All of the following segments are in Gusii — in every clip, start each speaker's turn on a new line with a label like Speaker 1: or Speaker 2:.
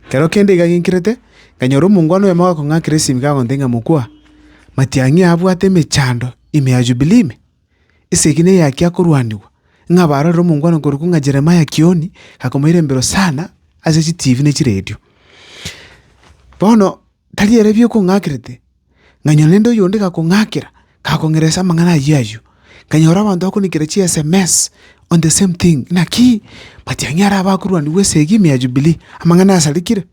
Speaker 1: Ekero kende iga ginkerete, nkanyora omongwana oyomo agakong'akera esimi kagonte ng'a mokwa, matiang'i abwate emechando ime ya Yubilii ime, esegi neyaki akorwanigwa, ng'a barorere omongwana okorokwa ng'a Jeremia Kioni gakomoirembera Hosana ase chitibi ne chiredio. Bono Tari ere biokong'akerete, nkanyora nende oyonde gakong'akera, gakong'eresa amang'ana ayio ayio. Nkanyora abanto bakonikera chi-SMS, On the same thing, Naki? But ang'e are abakorwanigwa esegi ime ya Jubilee, amang'ana asarikire.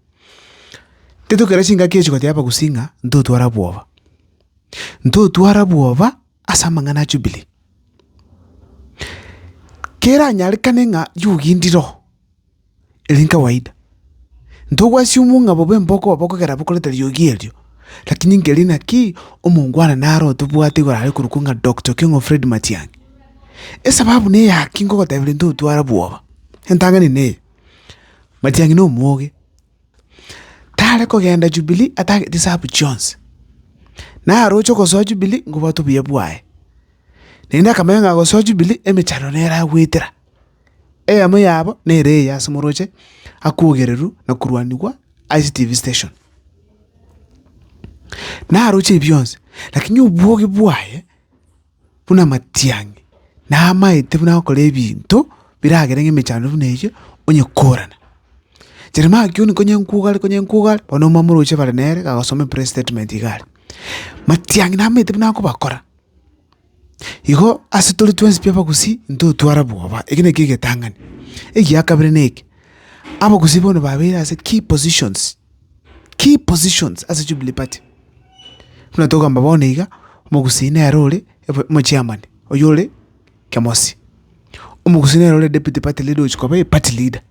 Speaker 1: Intwe tokera chingaki echi goteeba gosii ng'a ntotwara bwoba. Ntotwara bwoba ase amang'ana a Jubilee. Keranyarekane ng'a yogendire oo. Ere nkawaida, ntogwasie omong'a bobe mboko bobe kogera bokorete riogi erio, lakini nkeria naki omongwana naro otobwate igoro are korokwa ng'a Doctor Keng'o Fred Matiang'i. Esababu neye aki nkogoteberia ntotwara bwoba, entang'ani neye, Matiang'i nomoge, tare kogenda Jubilee atagete esabu chionsi. Naroche gosoa Jubilee nkobwate obuya bwaye, naende akamanya ng'a gosoa Jubilee emechando nere agoetera. Eyemo yabo nere eye ase moroche akwogererwa na korwanigwa ase TV station. Naroche ebi bionsi, lakini obwogi bwaye buna amatiang'i, namaete buna agokora ebinto biragere ng'a emechando buna eyio onye korana. Jeremia kioni konye nkogare konye nkogare, bono omomoroche bare nere, agosoma epress statement iga are. Matiang'i namaete buna akobakora. Igo ase tore twensi tw'abagusi ntotware bwoba. Eke nekio egetang'ani. Egia kabere neke, abagusi bono babeire ase key positions, key positions ase Jubilee Party. Buna togamba bono iga, omogusi nere ore omochairman oywo ore Kemosi. Omogusi nere ore deputy party leader ogochia koba eparty leader.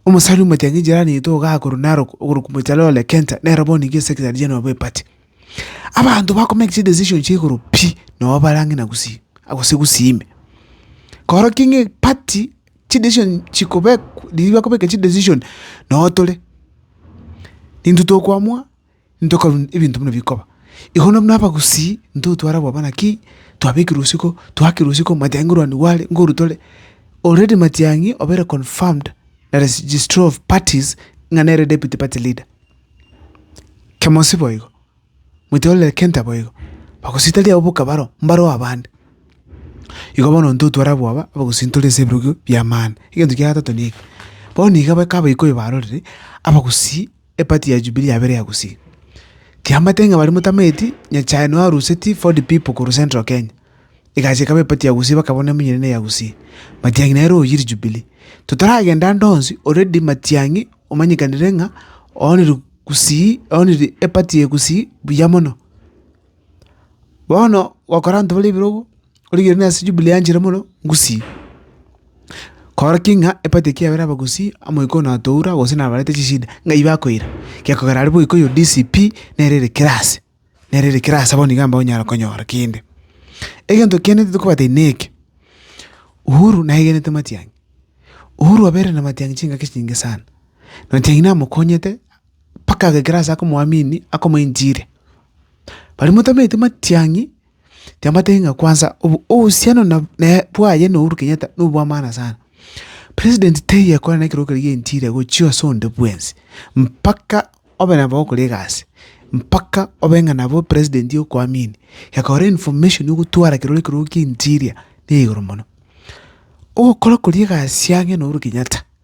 Speaker 1: Omosani omotiang'i jirani yaito iga akorwa Narok okorokwa mochare Ole Kenta, nere bono iga esekretari general bw'eparty. Abanto bakomake chidecision chia igoro pi nabo bare ang'e na gusii gose gusii ime. Korokio ng'a eparty chidecision chikobekwa riria bakobeka chidecision noo tore, intwe tokoamua ntokorwa ebinto buna bikoba. Igo na buna abagusii intwe otware abwo abana ki twabekire isiko twakire isiko matiang'i ngorwani gware ngoru tore, already matiang'i obeire confirmed na registry of parties ng'a nere deputy party leader. Kemosi boigo, moite ororere kenta boigo, bagositaria abwo bokabaro mbareo abande. Igo bono ntotware abwo aba abagosintoria ase ebirogo bi'amani. Egento kia gatato neke, bono iga baka abaikoi barorire, abagusii epati ya Jubilee yabeire ya gusii. Tiamanyete ng'a baria motamaeti, Nyachae noyo arusetie Ford Pipo korwa Central Kenya, egacha ekaba epati ya gusii bakabona emonyene neya gusii. Matiang'i nere oyire Jubilee. Totaragenda ande onsi, already Matiang'i omanyekanire ng'a oonire gusii, oonire epati eye gusii buya mono. Bono gokora abanto bare ebirogo, origereire nonye ase Jubilee yanchire mono, ngusii. Kora ki ng'a epati eki yabere aba gusii, omoika oyo natoura gose nabarete chishida, ng'ai bakoira? Gekogera aria boika oyo DCP nere ere kera ase. nere ere kera asaba nigo amba onyare konyora kende. Egento kiane tokobate neke, Uhuru naegenete Matiang'i. Uhuru abeire na Matiang'i chingaki chinge sana. Matiang'i namokonyete mpaka agekera ase akomoamini akomoenchire. Baria motameti Matiang'i Tiamanyeti ng'a kwansa obo- obohusiano na- naye bwaye na Uhuru Kenyatta nobwamaana sana. President taiyo ekore na ekerogo keria gia interior gochia ase onde bwensi, mpaka obe nabo ogokora egasi, mpaka obe ng'a nabo president okoamini, gekora information ogotwara ekerogo ekerogo kia interior na igoro mono. Ogokora koria egasi ang'e na Uhuru Kenyatta.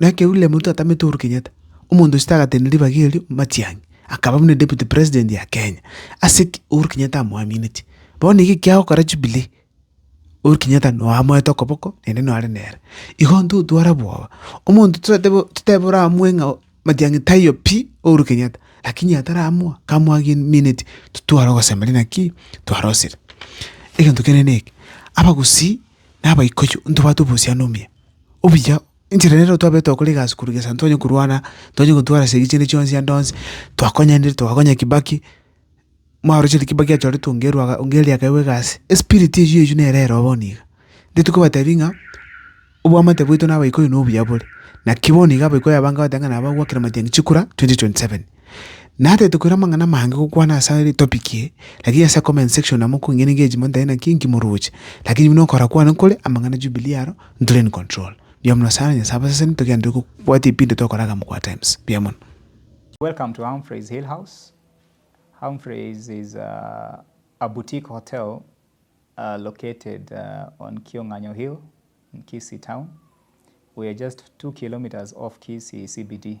Speaker 1: Na ekero William Ruto atamete Uhuru Kenyatta, omonto ochete agatenda ribaga erio Matiang'i, akaba buna deputy president ya Kenya, ase ki? Uhuru Kenyatta amoamineti. Bono iga ekiago kora Jubilee, Uhuru Kenyatta noe amoete okoboko naende noe are nere. Igo intwe otwara bwoba, omonto toete bo totebe oramue ng'a Matiang'i taiyo pi, Uhuru Kenyatta, lakini ataramoa, kamoagimineti, totware ogosemeria naki? Twarosire. Egento kende neke, abagusii, na abaikuyu, ntobwate obohusiano omuya, obuya Enchera nero twabete gokora egasi korwa gesaku ntwanye korwana, ntwanye gotwara ase ebiche ande chionsi ande onsi, twakonyainire twagakonya kibaki, mwarochereria kibaki achoretwe onga erwa onga eriaka ewa egasi, espiriti eywo eywo nere ero bono iga. Intwe tikobatebi ng'a, obwamate bwaito na abaikoi nobuya bore, naki bono iga abaikoi abange bagotebi ng'a nabo bagwakera matiang'i chikura twenty twenty seven. Natete koira amang'ana amange gokwana asare topic eye, lakini ase comment section amo kwengena engagement ntari naki inki moroche, lakini buna okora kwane kore, amang'ana a Jubilee aro ntore in control. Mbuya mono sana Nyasae abaseseni togenderere gokobwati ebinto tokora iga mokwa times. Mbuya mono. Welcome to Humphrey's Hill House. Humphrey's is a, a boutique hotel uh, located uh, on Kionganyo Hill in Kisii town. We are just two kilometers off Kisii CBD.